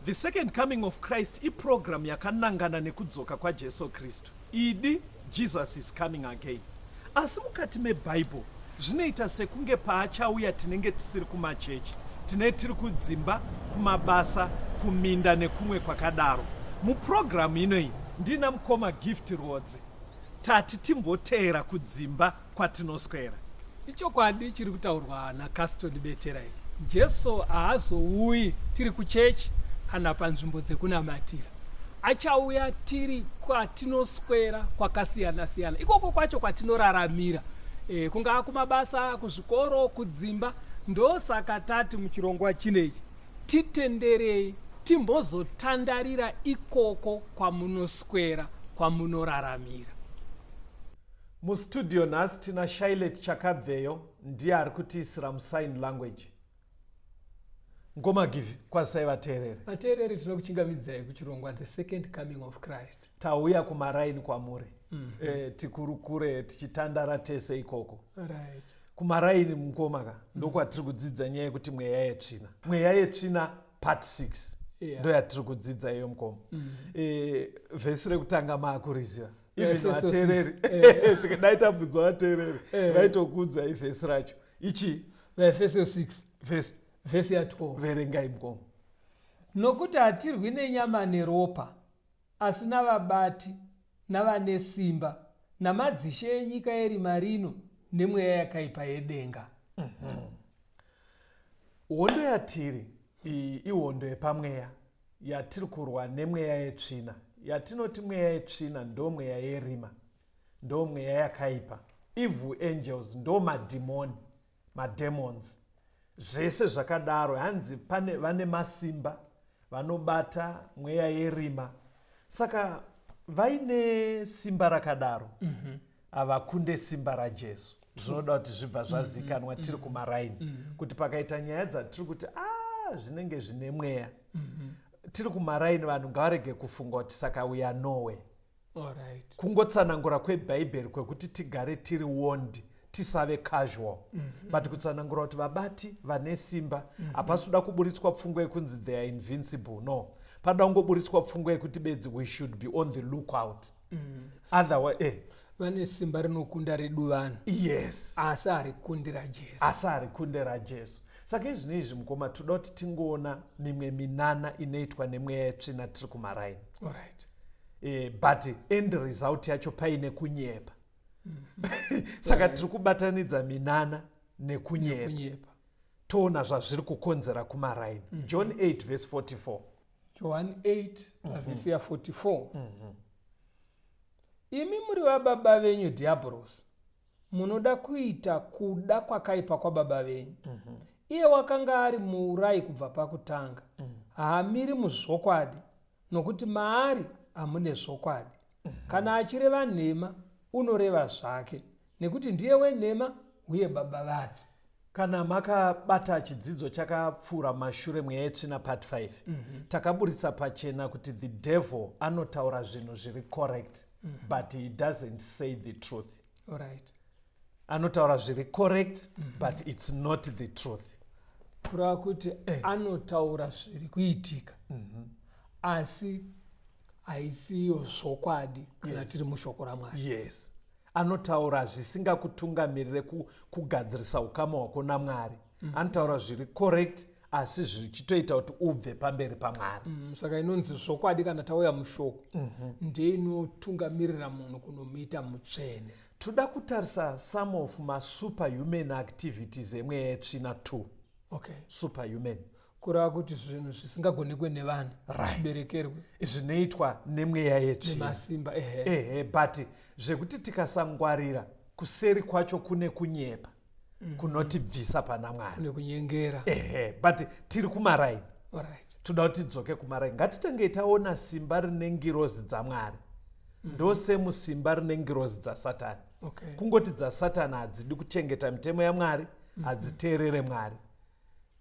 The Second Coming of Christ iprogramu yakanangana nekudzoka kwaJesu Kristu, idi Jesus is coming again. Asi mukati meBible zvinoita sekunge paachauya tinenge tisiri kumachechi, tine tiri kudzimba, kumabasa, kuminda nekumwe kwakadaro. Muprogramu inoyi ndina mukoma Gift Rwodzi tati timboteera kudzimba. kwatinoswera. Ichokwadi chiri kutaurwa naCaston Betera ichi. Jesu haazouyi tiri kuchechi kana panzvimbo dzekunamatira. Achauya tiri kwatinoswera kwakasiyana siyana. Ikoko kwacho kwatinoraramira. E, kungaa kumabasa, kuzvikoro, kudzimba. Ndosaka tati muchirongwa chinechi titenderei timbozotandarira ikoko kwamunoswera kwamunoraramira. Mustudio nhasi tina Shailet Chakabveyo ndiye ari kutiisira musign language. Ngoma give kwazisai vateereri. Vateereri tinokuchingamidzai kuchirongwa The Second Coming of Christ. Tauya kumaraini kwamuri. Mm -hmm. E, tikurukure tichitandara tese ikoko. Right. Kumaraini mukoma ka mm -hmm. ndokwatiri kudzidza nyaya yekuti mweya yetsvina. Mweya yetsvina part 6. Yeah. Ndoyatiri kudzidza iyo mukoma. Mm -hmm. E, vhesi rekutanga maakuriziva. even vateereri dai tabvunza vateereri vaitokuudza ivhesi racho ichii vaefeso 6 vhesi ya12 verengai mkomo nokuti hatirwi nenyama neropa asi navabati navane simba namadzishe enyika yerima rino nemweya yakaipa yedenga mhm. hondo yatiri ihondo yepamweya yatiri kurwa nemweya yetsvina yatinoti mweya yetsvina ndo mweya yerima ndo mweya yakaipa evil angels ndo madhimoni mademons zvese zvakadaro hanzi pane vane masimba vanobata mweya yerima saka vaine simba rakadaro mm-hmm. havakunde simba rajesu zvinoda kuti zvibva mm, zvazikanwa mm, tiri mm. kumaraini kuti pakaita nyaya dzatiri kuti a ah, zvinenge zvine mweya mm-hmm. tiri kumaraini vanhu ngavarege kufunga kuti saka uya nowe right. kungotsanangura kwebhaibheri kwekuti tigare tiri wondi tisave casual mm -hmm. but kutsanangura kuti vabati vane simba mm-hmm. hapasi mm -hmm. kuda kuburitswa pfungwa yekunzi they are invincible no panoda kungoburitswa pfungwa yekuti bedzi we should be on the lookout mm. otherwise eh vane simba rinokunda redu vanhu yes asi harikundira jesu asi harikundira jesu saka izvino izvi mukoma toda kuti tingoona mimwe minana inoitwa nemweya yetsvina tiri kumaraini right. e, but end result yacho paine kunyepa mm -hmm. saka tiri kubatanidza minana nekunyepa toona zvazviri kukonzera kumaraini mm -hmm. john 8 vese 44 johani 8 pavhesi ya 44 imi muri vababa venyu dhiyabhorosi munoda kuita kuda kwakaipa kwababa venyu iye wakanga ari muurayi kubva pakutanga haamiri muzvokwadi nokuti maari hamune zvokwadi kana achireva nhema unoreva zvake Nekuti ndiye wenhema uye baba vadzo. Kana makabata chidzidzo chakapfuura mashure mweya yetsvina part 5 mm -hmm. takaburitsa pachena kuti the devil anotaura zvinhu zviri correct mm -hmm. but he doesn't say the truth right. anotaura zviri correct mm -hmm. but it's not the truth kurava kuti eh. anotaura zviri kuitika mm -hmm. asi haisiyo zvokwadi kana yes. tiri mushoko ramwari yes anotaura zvisingakutungamirire kugadzirisa ukama hwako namwari mm. anotaura zviri correct asi zvichitoita kuti ubve pamberi pamwari mm, saka inonzi zvokwadi kana tauya mushoko mm -hmm. ndeinotungamirira munhu kunomuita mutsvene toda kutarisa some of masuperhuman activities emweya yetsvina two okay. superhuman kureva kuti zvinhu zvisingagonekwe nevanhu Right. zviberekerwe zvinoitwa nemweya yetsvina nemasimba ehe ehe but zvekuti tikasangwarira kuseri kwacho kune kunyepa kunotibvisa pana mwari nekunyengera ehe but tiri kumaraini Alright. toda kuti tidzoke kumaraini ngatitangei taona simba rine ngirozi dzamwari ndosemusimba rine ngirozi dzasatani Okay. kungoti dzasatani hadzidi kuchengeta mitemo yamwari hadziteerere mwari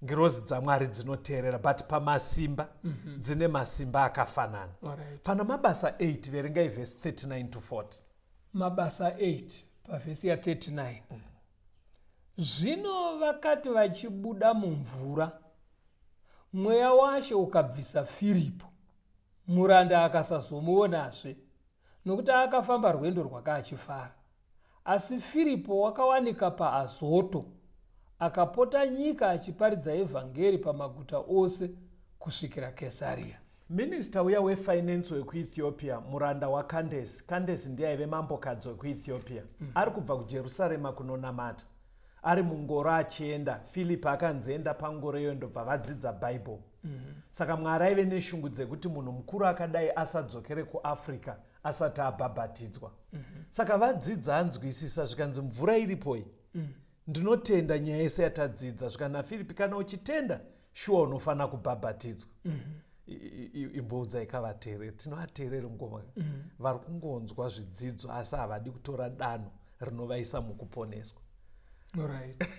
ngirozi dzamwari dzinoteerera but pamasimba mm -hmm. dzine masimba akafanana right. pana mabasa 8 verengai vhesi 39 to 40 mabasa 8 pavhesi ya 39 mm. zvino vakati vachibuda mumvura mweya washe ukabvisa firipo muranda akasazomuonazve nokuti akafamba rwendo rwakaachifara Asi Firipo wakawanika paAzoto, akapota nyika achiparidza evhangeri pamaguta ose kusvikira Kesaria. Minista uya wefainenzi wekuEthiopia, muranda waKandesi, Kandesi ndiye aive mambokadzi wekuEthiopia, mm. ari kubva kuJerusarema kunonamata. Ari mungoro achienda, Firipi akanzi enda pangoro iyoyo ndobva vadzidza Bhaibheri. Mm. Saka Mwari aive neshungu dzekuti munhu mukuru akadai asadzokere kuAfrica asati abhabhatidzwa mm -hmm. saka vadzidza anzwisisa zvikanzi mvura iripoi mm. ndinotenda nyaya yese yatadzidza zvikanzi nafiripi kana uchitenda shuwa unofanira kubhabhatidzwa mm -hmm imboudzai kavateereri tinovateereri ngoma mm. vari kungonzwa zvidzidzo asi havadi kutora danho rinovaisa mukuponeswa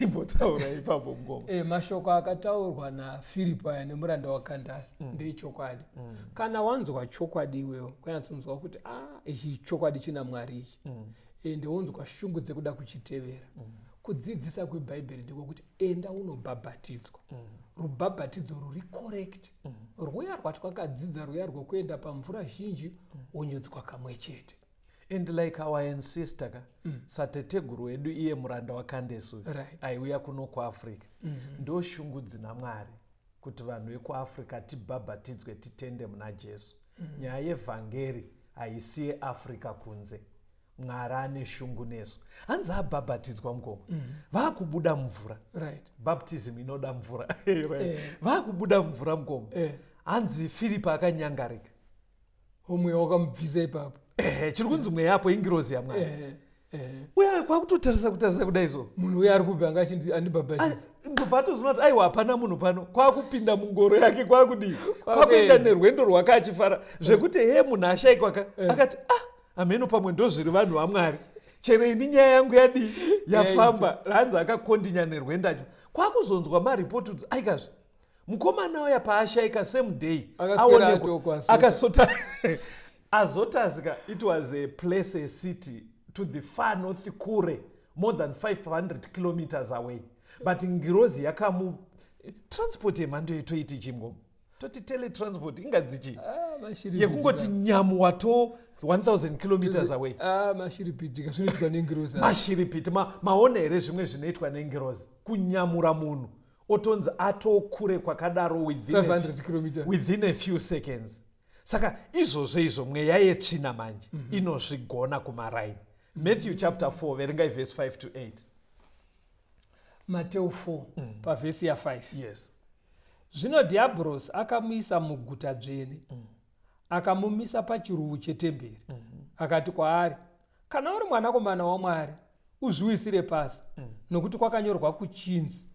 imbotaura ipapo mukoma e, eh, mashoko akataurwa nafiripo aya nemuranda wakandasi mm. ndeechokwadi mm. kana wanzwa chokwadi iwewo kwanyatsonzwa kuti a ah, ichi chokwadi china mwari ichi mm. e, eh, ndewonzwa shungu dzekuda kuchitevera mm. kudzidzisa kwebhaibheri ndiko kuti enda unobhabhatidzwa mm. rubhabhatidzo ruri correct mm. rwuya rwatwakadzidza rwuya rwokuenda pamvura zhinji mm. wonyudzwa kamwe chete and like our ancestor ka mm. sateteguru wedu iye muranda wakandesu right. aiuya kuno kuafrica mm -hmm. ndo shungu dzina mwari kuti vanhu vekuafrica tibhabhatidzwe titende muna jesu mm -hmm. nyaya yevhangeri haisiye africa kunze mwari ane shungu nesu hanzi abhabhatidzwa mukoma mm -hmm. vakubuda mvura right. baptism inoda mvura eh. vakubuda mvura mukoma eh. hanzi firipi akanyangarika mweya wakamubvisa ipapo ehe chiri kunzi mweya apo ingirozi yamwari ehe ehe uya kwakutotarisa kutarisa kudai so munhu uya ari kupi anga achindi- andibhabhatidza ndobva atozoona kuti aiwa hapana munhu pano kwakupinda mungoro yake kwakudii kwakuenda nerwendo rwake achifara zvekuti hee munhu ashaikwa ka akati ah hameno pamwe ndozviri vanhu vamwari chero ini nyaya yangu yadii yafamba hanzi akakondinya nerwendo acho kwakuzonzwa maripoti kuti aikazve mukomana uya paashaika same day akasota azotazika it was a place a city to the far north kure more than 500 kilometers away but ngirozi yakamu transport yemhando yetoiti chimgo toti teletransport ingadzichi ah, yekungoti nyamu wato 1000 kilometers away ah, mashiripiti zvinoitwa nengirozi mashiripiti maona here zvimwe zvinoitwa nengirozi kunyamura munhu otonzi atokure kwakadaro within, 500 kilometer. within a few seconds saka izvozvo izvo mweya yetsvina manje mm -hmm. inozvigona kumaraini mm -hmm. matthew chapter 4 verengai verse 5 to 8 mateo 4 mm. pavhesi ya5 yes zvino dhiabhorosi akamuisa muguta dzvene mm. akamumisa pachiruvu chetemberi mm -hmm. akati kwaari Kana uri mwanakomana waMwari, uzviwisire pasi, mm. nokuti kwakanyorwa kuchinzi,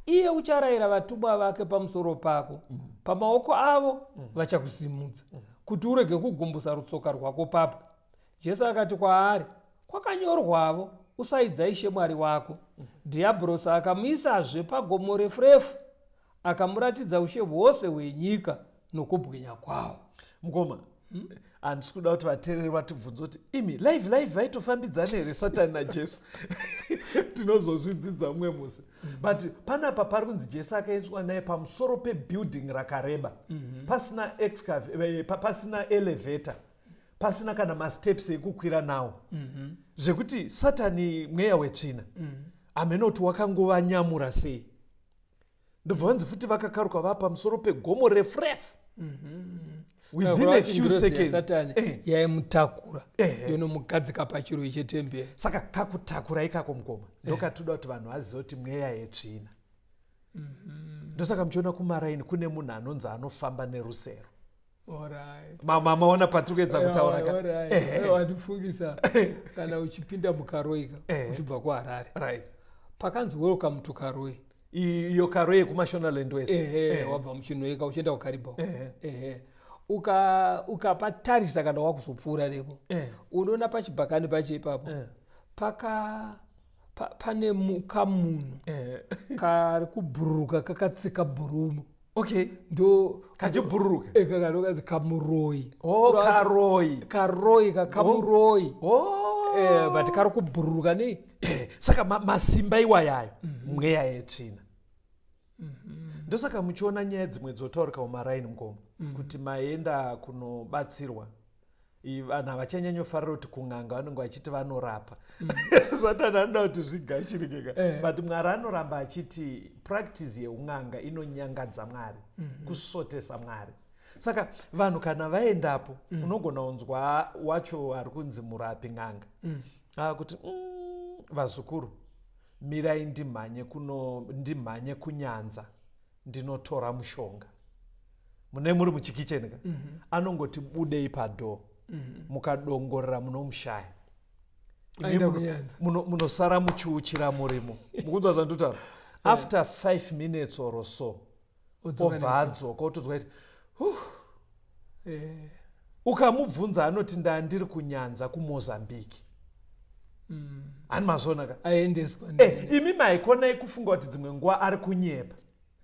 iye ucharayira vatumwa vake pamusoro pako mm. pamaoko avo mm. vachakusimudza mm. kuti urege kugumbusa rutsoka rwako papwe jesu akati kwaari kwakanyorwavo usaidza ishe mwari wako mm. dhiyabhurosi akamuisazve pagomo refu refu akamuratidza ushe hwose hwenyika nokubwinya kwawo mukoma hmm? handisi kuda kuti vateereri vatibvunze kuti imi live live vaitofambidzana here satani najesu tinozozvidzidza mumwe musi hmm. but panapa pari kunzi jesu akaendeswa naye pamusoro pebuilding rakareba mhm. pasina eh, pasina elevator pasina kana masteps ekukwira nawo mhm. zvekuti satani mweya wetsvina mhm. hameno kuti wakangova nyamura sei ndobva vanzi futi vakakaruka vaa pamusoro pegomo refu refu mm-hmm. within a few secondssatani eh. yaimutakura eh, eh. yonomugadzika pachiroi chetemberi saka kakutakura ikako mukoma ndokatoda kuti vanhu vaziva kuti mweya yetsvina mm-hmm. ndosaka muchiona kumaraini kune munhu anonzi anofamba nerusero maona patikuyedza kutaura kawandifungisa kana uchipinda mukaroika uchibva kuharare pakanzi welcome to karoe iyo karoe yekumashonaland west wabva muchinoeka uchienda kukariba ukapatarisa kana wakuzopfuura nepo unoona pachibhakani pacho ipapo paka pane kamunhu kari kubhururuka kakatsika bhurumu okay ndo kachibhururuka eh, kakanokanzi kamuroyi oh, karoyi karoyi kakamuroyi oh. oh. eh, but kari kubhururuka nei eh, saka ma, masimba iwayayo mm -hmm. mweya yetsvina mm -hmm. ndosaka muchiona nyaya dzimwe dzotaurika mumaraini mukoma mm -hmm. kuti maenda kunobatsirwa vanhu havachanyanyofarira kuti kun'anga vanenge vachiti vanorapa mm. satani anoda kuti zvigashirikeka eh. but mwari anoramba achiti practice yeun'anga inonyangadza mwari mm-hmm. kusvotesa mwari saka vanhu kana vaendapo mm. unogona kunzwa wacho ari kunzi murapi n'anga mm. ah, kuti mm, vazukuru mirai ndimhanye kuno ndimhanye kunyanza ndinotora mushonga mune muri muchikicheni ka mhm. anongoti budei padhoo mhm. mukadongorera munomushaya munosara muchiuchira murimo mukunzwa zvanditaura after five minutes or so obva adzoka otodzwa kuti eh. ukamubvunza anoti ndandiri kunyanza kumozambique mm. ani mazvonaka aendeswa eh, imi maikonai kufunga kuti dzimwe nguva ari kunyepa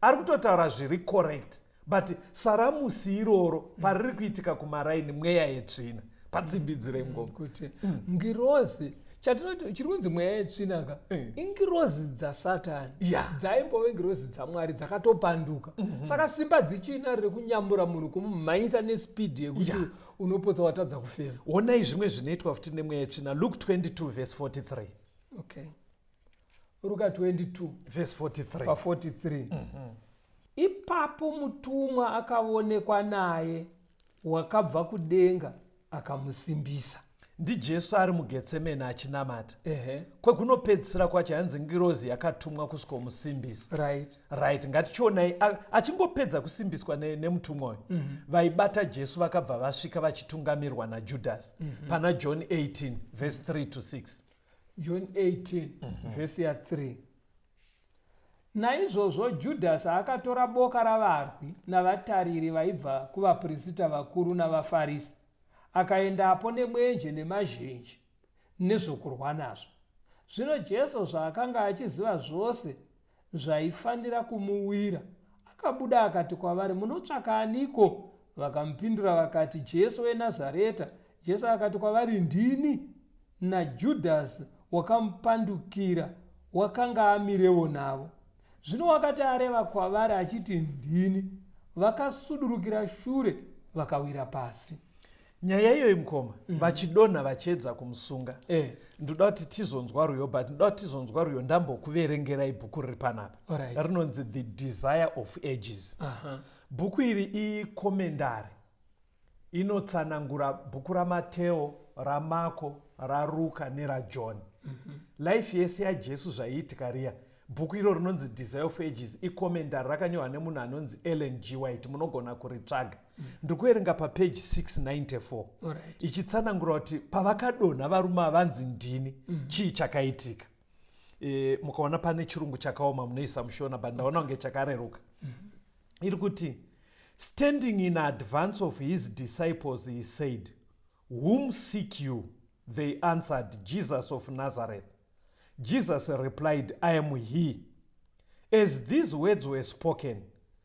ari kutotaura zviri correct but saramusi iroro pariri kuitika kumaraini mweya yetsvina padzimbidzire mm, ngoma kuti mm. ngirozi chatinoti chiri kunzi mweya yetsvinaka eh. ingirozi dzasatani dzaimbove ngirozi dzamwari dzakatopanduka mhm. saka simba dzichina rekunyambura munhu kumumhanyisa nespidi yekuti unopotsa watadza kufema onai zvimwe zvinoitwa futi nemweya yetsvina luk 22 vhesi 43 okay ruka 22 vhesi 43 pa 43 mhm. ipapo mutumwa akavonekwa naye wakabva kudenga akamusimbisa. NdiJesu ari muGetsemane achinamata. Ehe. Kwekunopedzisira kwacho hanzi ngirozi yakatumwa kusikomusimbisa. Right. Right, ngatichionai a- achingopedza kusimbiswa ne- nemutumwa uyu. Vaibata Jesu vakabva vasvika vachitungamirwa naJudhasi pana John 18 verse 3 to 6. John 18 vhesi ya 3 Naizvozvo Judhasi akatora boka ravarwi navatariri vaibva kuvapirisita vakuru navaFarisi, akaendapo nemwenje nemazhenje nezvokurwa nazvo. Zvino Jesu zvaakanga achiziva zvose zvaifanira kumuwira, akabuda akati kwavari, Munotsvaka aniko? Vakamupindura vakati, Jesu weNazareta. Jesu akati kwavari, Ndini. NaJudhasi wakamupandukira wakanga amirevo navo. Zvino wakati areva kwavari achiti, Ndini, vakasudurukira shure vakawira pasi. Nyaya iyoyi mukoma, mm. vachidonha vachiedza kumusunga. Eh. Ndoda kuti tizonzwa ruyo, but ndoda kuti tizonzwa ruyo ndambokuverengerai bhuku riri panapa. Right. Rinonzi The Desire of Ages. Uh -huh. Bhuku iri ikomendari. inotsanangura bhuku ramateo ramako raruka nerajohn mm -hmm. life yese yajesu zvaiitika riya bhuku iro rinonzi desire of ages ikomendari rakanyorwa nemunhu anonzi ellen g white munogona kuritsvaga mm. ndikuerenga papeji 694 right. ichitsanangura kuti pavakadonha varume avanzi ndini mm. chii chakaitika e, mukaona pane chirungu chakaoma munoisa mushona but ndaona kunge chakareruka mm-hmm. iri kuti standing in advance of his disciples he said whom seek you they answered jesus of nazareth jesus replied i am he as these words were spoken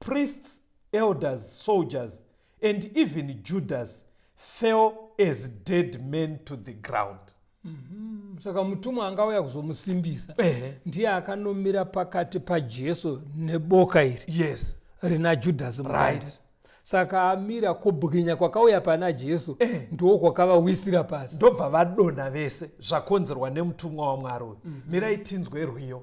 priests, elders, soldiers, and even Judas fell as dead men to the ground. Mhm. saka mutumwa anga auya kuzomusimbisa Ehe. ndiye akanomira pakati pajesu neboka iri Yes. rina judhasi mukati. Right. saka amira kubwinya kwakauya pana jesu Eh. ndiwo kwakavawisira pasi ndobva vadonha vese zvakonzerwa nemutumwa wamwari uyu mirai tinzwe rwiyo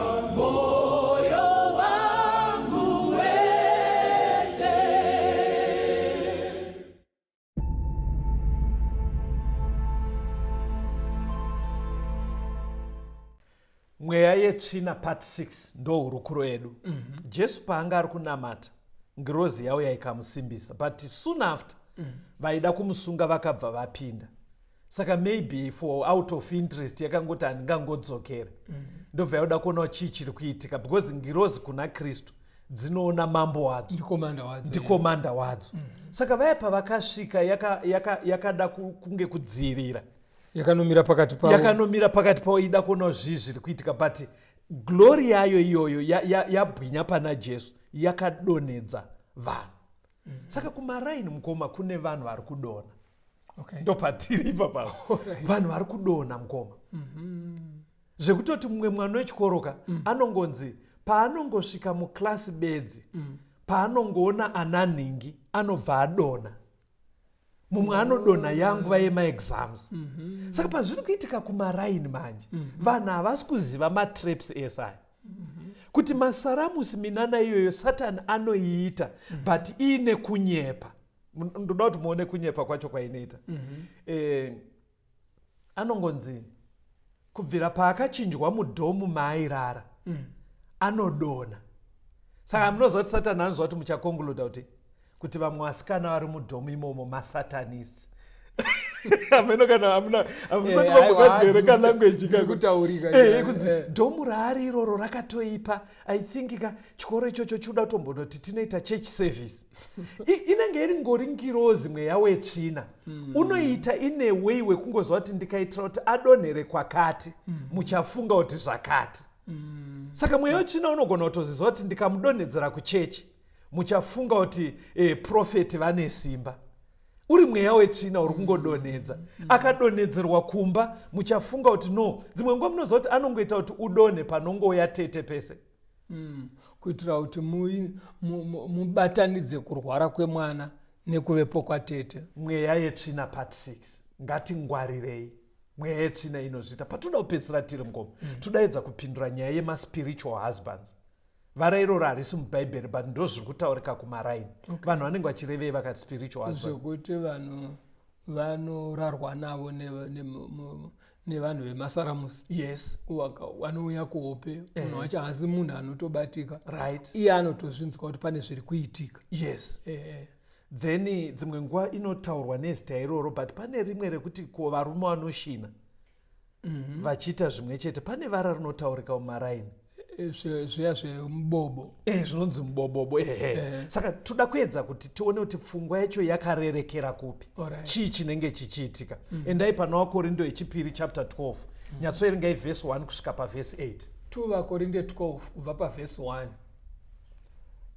mweya yetsvina part 6 ndo hurukuro yedu mm -hmm. jesu paanga ari kunamata ngirozi yauya ikamusimbisa but soon after mm -hmm. vaida kumusunga vakabva vapinda saka maybe for out of interest yakangoti handingangodzokere mm. ndobva yaoda kuonawo chii chiri kuitika because ngirozi kuna kristu dzinoona mambo wadzo ndikomanda wadzo mm. saka vaya pavakasvika yakada yaka, yaka kunge kudzivirira yakanomira pakati pavo yakanomira pakati pavo ida kuonawo zvii zviri kuitika but glori yayo iyoyo yabwinya ya, ya pana jesu yakadonhedza vanhu mm -hmm. saka kumaraini mukoma kune vanhu vari kudona okay. ndopatiri ipapa right. vanhu vari kudona mukoma mm -hmm. zvekutoti mumwe mwana wechikoroka mm. anongonzi paanongosvika muklasi bedzi mm. paanongoona ana nhingi anobva adona mumwe anodonha yangu vaye maexams mhm. saka pazviri kuitika kumaraini manje mhm. vanhu havasi kuziva matraps ese aya kuti masaramusi minana iyoyo satani anoiita but iine kunyepa ndoda kuti muone kunyepa kwacho kwainoita eh, anongonzi kubvira paakachinjwa mudhomu maairara anodona saka munoziva kuti satani anoziva kuti muchakonguluda kuti kuti vamwe vasikana vari mudhomu imomo masatanists ameno kana amuna amusati eh, vambokadzwere ka language kakutaurika eh, kunzi eh. dhomu raari iroro rakatoipa i think ka chikoro ichocho chikuda kutombonoti tinoita church service inenge iri ngori ngirozi mweya wetsvina mm. unoita ine way wekungozva kuti ndikaitira kuti adonhere kwakati mm. muchafunga kuti zvakati mm. saka mweya wetsvina unogona kutozizva kuti ndikamudonhedzera kuchechi muchafunga kuti e, profeti vane simba uri mweya wetsvina uri kungodonhedza akadonhedzerwa kumba muchafunga kuti no dzimwe nguva munoziva kuti anongoita kuti udonhe panongouya tete pese mm. kuitira kuti mubatanidze mu, mu, mu kurwara kwemwana nekuvepo kwatete mweya yetsvina part 6 ngatingwarirei mweya yetsvina inozviita patoda kupedzisira tiri mukoma mm. todaedza kupindura nyaya yemaspiritual husbands vara iroro harisi mubhaibheri but ndo zviri kutaurika kumaraini okay. vanhu vanenge vachirevei vakati spiritual zvekuti vanhu vanorarwa navo nevanhu ne, ne, vemasaramusi yes vanouya kuhope eh. munhu eh. wacho haasi munhu anotobatika right iye anotozvinzwa kuti pane zviri kuitika yes eh. then dzimwe nguva inotaurwa nezita iroro but pane rimwe rekuti ko varume vanoshina mhm. vachiita zvimwe chete pane vara rinotaurika mumaraini eh, eh, zviya zvemubobo e zvinonzi mubobobo ehe saka toda kuedza kuti tione kuti pfungwa yacho yakarerekera kupi chii chinenge chichiitika mm. endai pana wakorindo yechipiri chapter 12 mm. nyatsoerengai vhesi 1 kusvika pavhesi 8 2 vakorinde 12 kubva pavhesi 1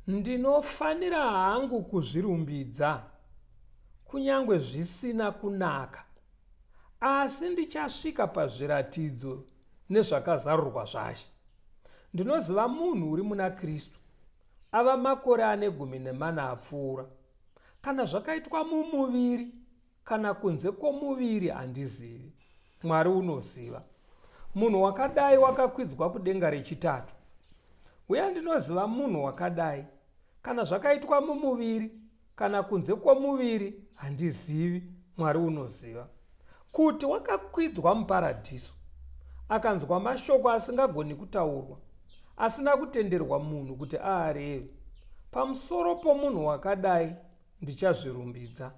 ndinofanira hangu kuzvirumbidza kunyange zvisina kunaka Asi ndichasvika pazviratidzo nezvakazarurwa zvaShe. Ndinoziva munhu uri muna Kristu, ava makore ane gumi nemana apfuura. Kana zvakaitwa mumuviri kana kunze kwomuviri handizivi. Mwari unoziva. Munhu wakadai wakakwidzwa kudenga rechitatu. Uye ndinoziva munhu wakadai, kana zvakaitwa mumuviri kana kunze kwomuviri handizivi, Mwari unoziva, kuti wakakwidzwa muparadhiso. Akanzwa mashoko asingagoni kutaurwa, asina kutenderwa munhu kuti aareve. Pamusoro pomunhu wakadai ndichazvirumbidza,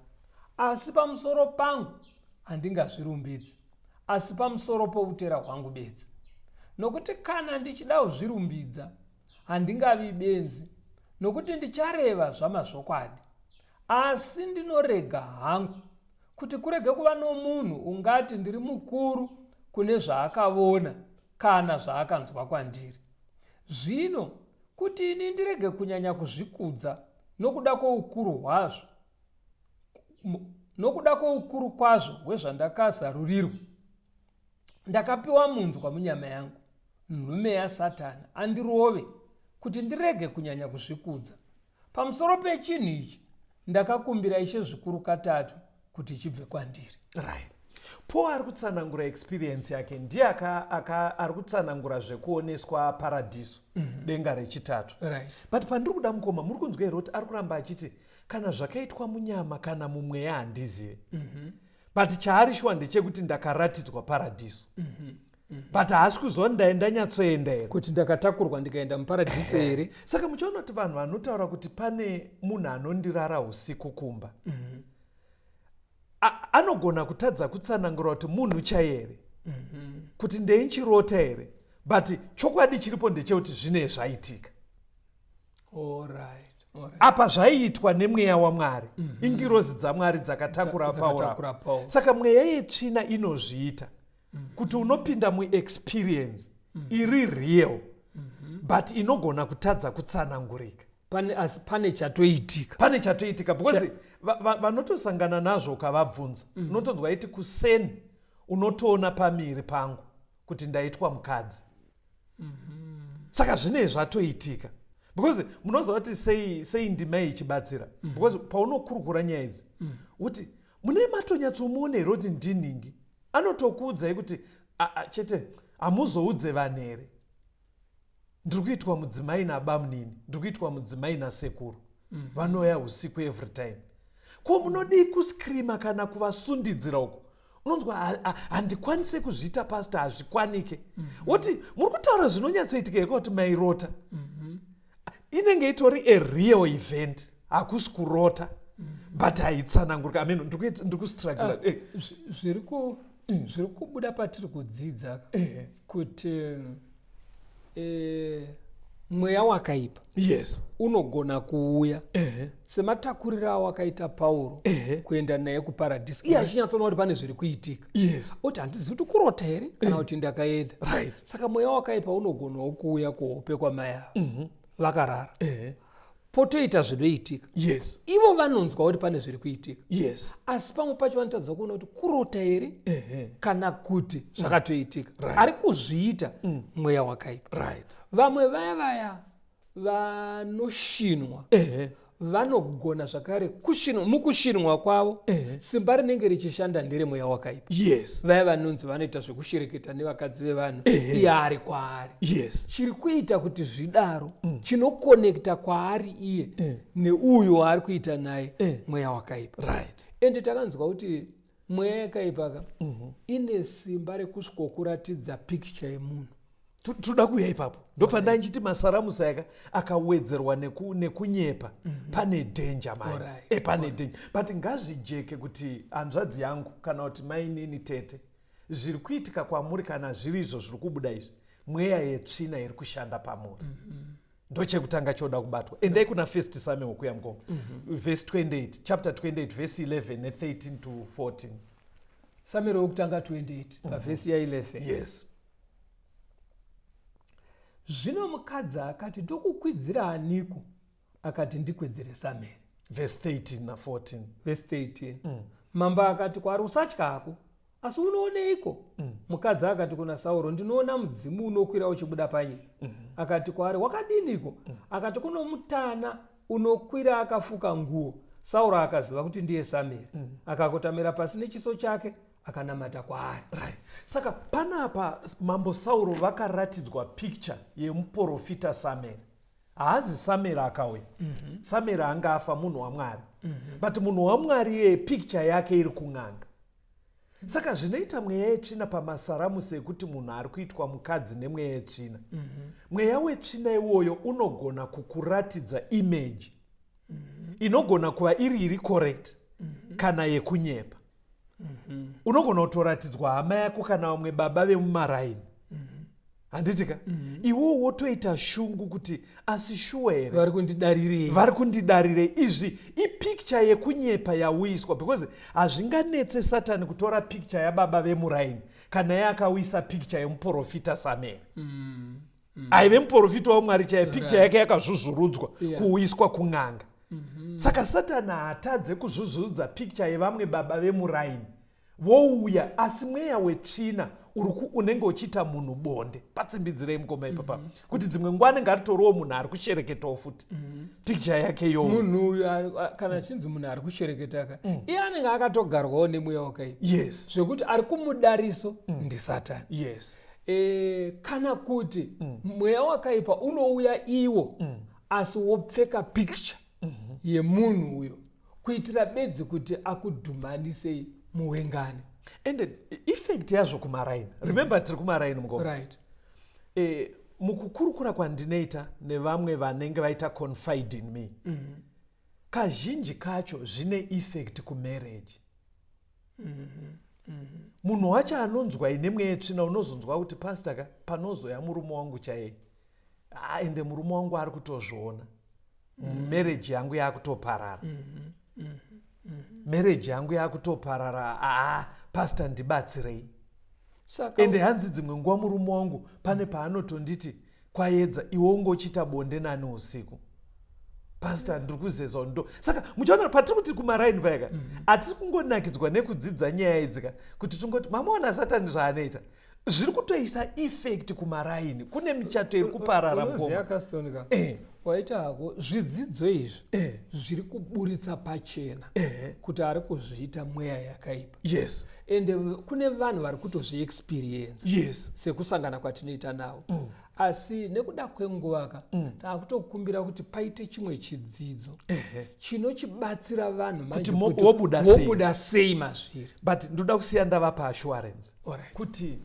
asi pamusoro pangu handingazvirumbidzi, asi pamusoro poutera hwangu bedzi. Nokuti kana ndichida kuzvirumbidza, Handingavi benzi nokuti ndichareva zvamazvokwadi. Asi ndinorega hangu kuti kurege kuva nomunhu ungati ndiri mukuru kune zvaakavona kana zvaakanzwa kwandiri. Zvino kuti ini ndirege kunyanya kuzvikudza nokuda kwoukuru hwazvo, nokuda kwoukuru kwazvo hwezvandakazarurirwa, ndakapiwa munzwa munyama yangu nhume yasatani andirove kuti ndirege kunyanya kuzvikudza pamusoro pechinhu ichi ndakakumbira ishe zvikuru katatu kuti chibve kwandiri right. paul ari kutsanangura experience yake ndiye ari kutsanangura zvekuoneswa paradhiso mm -hmm. denga rechitatu right. but pandiri kuda mukoma muri kunzwa here kuti ari kuramba achiti kana zvakaitwa munyama kana mumweya handizive mm -hmm. but chaari shuwa ndechekuti ndakaratidzwa paradhiso mm -hmm. Mhm. but haasi kuzoni ndaye ndanyatsoenda here kuti ndakatakurwa ndikaenda muparadhiso here saka muchiona kuti vanhu vanotaura kuti pane munhu anondirara usiku kumba mm -hmm. anogona kutadza kutsanangura kuti munhu chaiye here mm -hmm. kuti ndeinchirota here but chokwadi chiripo ndechekuti zvine zvaitika apa zvaiitwa nemweya wamwari mm -hmm. ingirozi dzamwari dzakatakura pauro saka mweya yetsvina inozviita mm -hmm. kuti unopinda muexperience mm -hmm. iri real mm -hmm. but inogona kutadza kutsanangurika pane, as, pane chatoitika pane chatoitika because Ch vanotosangana va, va nazvo ukavabvunza mm -hmm. unotonzwa iti kuseni unotoona pamiri pangu kuti ndaitwa mukadzi mm -hmm. saka zvinei zvatoitika because munoziva kuti sei sei ndima ichibatsira mm -hmm. because paunokurukura nyaya idzi mm -hmm. uti mune matonyatsomuona here kuti ndinhingi anotokuudzai kuti chete hamuzoudze vanhu here ndiri kuitwa mudzimai nabamunini ndiri kuitwa mudzimai nasekuru mm -hmm. vanouya usiku every time ko munodii kuscreama kana kuvasundidzira uko unonzwa handikwanise kuzviita pasta hazvikwanike mhm. woti muri kutaura zvinonyatsoitika here kuti mairota mhm. inenge itori a real event hakusi kurota mhm. but haitsanangurika amen ndiri kustrugla ah, eh. zviri kubuda patiri kudzidza eh. kuti eh, mweya wakaipa yes unogona kuuya ehe sematakuriro awo akaita pauro Ehe. kuenda naye kuparadhiso iye achinyatsoona kuti pane zviri kuitika yes oti handizivi kuti kurota here kana kuti ndakaenda Right. saka mweya wakaipa unogonawo kuuya kuhope kwamai ava vakarara ehe potoita zvinoitika yes ivo vanonzwa kuti pane zviri kuitika yes asi pamwe pacho vanotadza kuona kuti kurota here uh -huh. kana kuti mm. zvakatoitika mm. right. ari kuzviita mm. mweya wakaipa right. vamwe vaya vaya vanoshinwa uh -huh vanogona zvakare kushinwa mukushinwa kwavo uh eh. -huh. simba rinenge richishanda nderemweya wakaipa yes vaya vanonzi vanoita zvekushereketa nevakadzi vevanhu uh eh. -huh. iye ari kwaari yes chiri kuita kuti zvidaro mm. chinokonekta kwaari iye mm. neuyo waari kuita naye mm. mweya wakaipa right ende takanzwa kuti mweya yakaipa ka mm -hmm. ine simba rekusvikokuratidza picture yemunhu tinoda kuuya ipapo ndopanda nchiti masaramusa yaka akawedzerwa neku, nekunyepa mm -hmm. pane dhenja mai right. e eh, pane right. dhenja but ngazvijeke kuti hanzvadzi yangu kana kuti mainini tete zviri kuitika kwamuri kana zviri izvo zviri kubuda izvi mweya yetsvina iri kushanda pamuri mm -hmm. ndochekutanga choda kubatwa endai kuna first samuel kuya mukoma mm -hmm. vhesi 28 chapter 28 vhesi 11 ne13 to 14 samuel wekutanga 28 mhm. pavhesi mm -hmm. ya 11 yes zvino mukadzi akati ndokukwidzira aniko akati ndikwedzere samere vhesi 13 na 14 vhesi 13 mm. mambo akati kwaari usatya hako asi unooneiko mm. mukadzi akati kuna sauro ndinoona mudzimu unokwira uchibuda panyika mm -hmm. akati kwaari wakadiniko mm. akati kuno mutana unokwira akafuka nguo sauro akaziva kuti ndiye sameri mm. akakotamira pasi nechiso chake akanamata kwaari right. saka panapa mambo sauro vakaratidzwa picture yemuprofita sameri haazi samera akauya mm -hmm. samera anga afa munhu wamwari mm -hmm. but munhu wamwari iyeye picture yake iri kun'anga saka zvinoita mweya yetsvina pamasaramusi ekuti munhu ari kuitwa mukadzi nemweya yetsvina mm -hmm. mweya wetsvina iwoyo unogona kukuratidza image mm -hmm. inogona kuva iri iri correct mm -hmm. kana yekunyepa unogona kutoratidzwa hama yako kana vamwe baba vemumaraini handitika mhm. iwewo wotoita shungu kuti asi shuwa here vari kundidarirei vari kundidarirei izvi ipicture yekunyepa yauyiswa because hazvinganetse satani kutora picture yababa vemuraini kana ye akauyisa picture yemuprofita sameri mm. mm. aive muprofita wamwari chaiye picture right. yake yakazvuzvurudzwa yeah. kuuyiswa kun'anga mm -hmm. saka satani haatadze kuzvuzvurudza picture yevamwe baba vemuraini vouya asi mweya wetsvina uriku unenge uchiita munhu bonde patsimbidzirei mukoma ipapa mm -hmm. kuti dzimwe nguva anenge atoriwo munhu ari kushereketawo futi mm -hmm. picture yake yo munhu uyu kana achinzi munhu ari kushereketa ka mm. iye anenge akatogarwawo nemweya wakaipa yes zvekuti ari kumudariso mm. ndisatani yes e, kana kuti mm. mweya wakaipa unouya iwo mm. asi wopfeka picture mm -hmm. yemunhu uyo kuitira bedzi kuti akudhumhanisei muwengani and effect yazvo kumaraini mm. remember tiri kumaraini mukoo right. e, mukukurukura kwandinoita nevamwe vanenge vaita confide in me mm -hmm. kazhinji kacho zvine effect kumarriage munhu wacho anonzwa ine mweya yetsvina unozonzwa kuti pasta ka panozoya murume wangu chaiye ah, ende murume wangu ari kutozviona mereji yangu yakutoparara mereji yangu yakutoparara aa ah, pasta ndibatsirei Saka ende hanzi dzimwe nguva murume wangu pane paanotonditi kwayedza iwe unge uchiita bonde nani usiku pasta ndiri kuzezwa ndo saka muchaona patiri kuti kumaraini payaka mm -hmm. hatisi kungonakidzwa nekudzidza nyaya idzika kuti tingoti mamaona satani zvaanoita zviri kutoisa effect kumaraini kune michato iri kuparara mgomaakastonika eh. waita hako zvidzidzo izvi eh. zviri kuburitsa pachena eh. kuti ari kuzviita mweya yakaipa yes and uh, kune vanhu vari kutozviexperience yes sekusangana kwatinoita navo mm. asi nekuda kwenguva ka mm. taakutokumbira kuti paite chimwe chidzidzo chinochibatsira vanhu manjewobuda sei mazviri but ndoda kusiya ndava paassurance right. kuti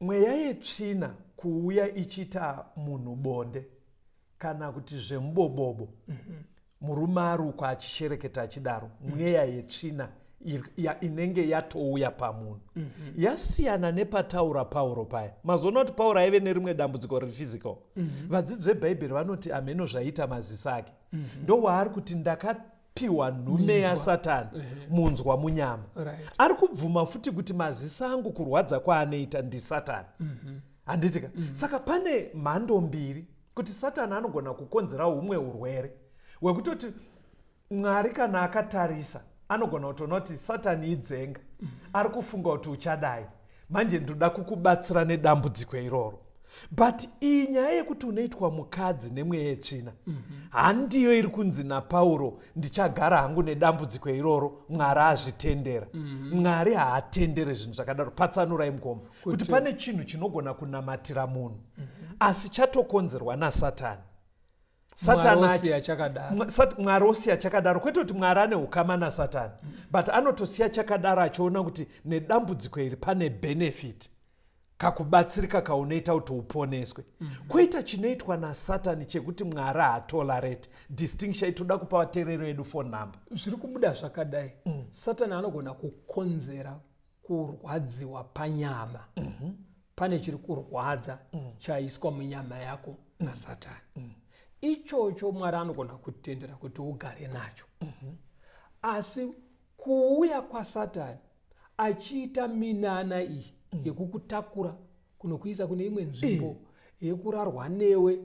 mweya yetsvina kuuya ichiita munhu bonde kana kuti zvemubobobo mm -hmm. Murume arukwa achishereketa achidaro, mm. mweya yetsvina ya, inenge yatouya pamunhu mm -hmm. yasiyana nepataura pauro paya mazoona kuti pauro aive nerimwe dambudziko rephysical mm -hmm. vadzidzi vebhaibheri vanoti hameno zvaiita maziso ake mm -hmm. ndowaari kuti ndaka piwa nhume yasatani eh. munzwa munyama right. ari kubvuma futi kuti maziso angu kurwadza kwaanoita ndisatani mhm. handiti mm -hmm. ka mm -hmm. saka pane mhando mbiri kuti satani anogona kukonzera umwe urwere hwekutoti mwari kana akatarisa anogona kutoona kuti satani idzenga ari kufunga kuti uchadai manje ndoda kukubatsira nedambudziko iroro but iyi nyaya yekuti unoitwa mukadzi nemweya yetsvina handiyo iri kunzi napauro ndichagara hangu nedambudziko iroro mwari azvitendera mwari haatendere zvinhu zvakadaro patsanurai mukoma kuti pane chinhu chinogona kunamatira munhu mm -hmm. asi chatokonzerwa nasatani mwari osiya chakadaro kwete kuti mwari ane ukama nasatani mm -hmm. but anotosiya chakadaro achiona kuti nedambudziko iri pane benefit kakubatsirika kaunoita kuti uponeswe mm -hmm. kwoita chinoitwa nasatani chekuti mwari haatolarate distinction itoda kupa vaterero edu fon number zviri kubuda zvakadai mm. satani anogona kukonzera kurwadziwa panyama mm -hmm. pane chiri kurwadza mm -hmm. chaiswa munyama yako mm -hmm. nasatani mm -hmm ichocho mwari anogona kutendera kuti ugare nacho asi kuuya kwasatani achiita minana iyi yekukutakura kunokuisa kune imwe nzvimbo yekurarwa newe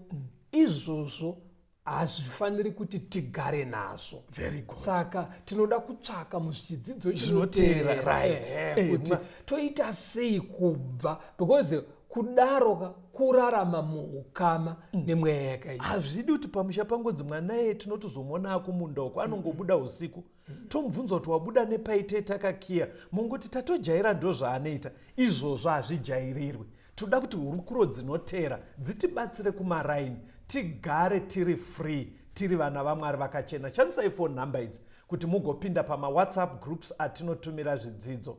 izvozvo hazvifaniri kuti tigare nazvo Very good. saka tinoda kutsvaka muzvidzidzo Zvinoteera, chinoteera, right. ehe, Eh, kuti ma- toita sei kubva because kudaro ka kurarama muukama nemweya yakaita hazvidi kuti pamusha pangonzi mwana ye tinotozomona akumunda uko anongobuda usiku tomubvunza kuti wabuda nepai tee takakiya mongoti tatojaira ndozvaanoita izvozvo hazvijairirwi toda kuti hurukuro dzinotera dzitibatsire kumaraini tigare tiri free tiri vana vamwari vakachena chandisai fo number idzi kuti mugopinda pamawhatsapp groups atinotumira zvidzidzo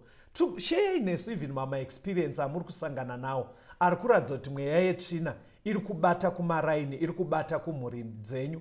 sheyai nesu even mamaexperience amuri kusangana nawo ari kuratidza kuti mweya yetsvina iri kubata kumaraini iri kubata kumhuri dzenyu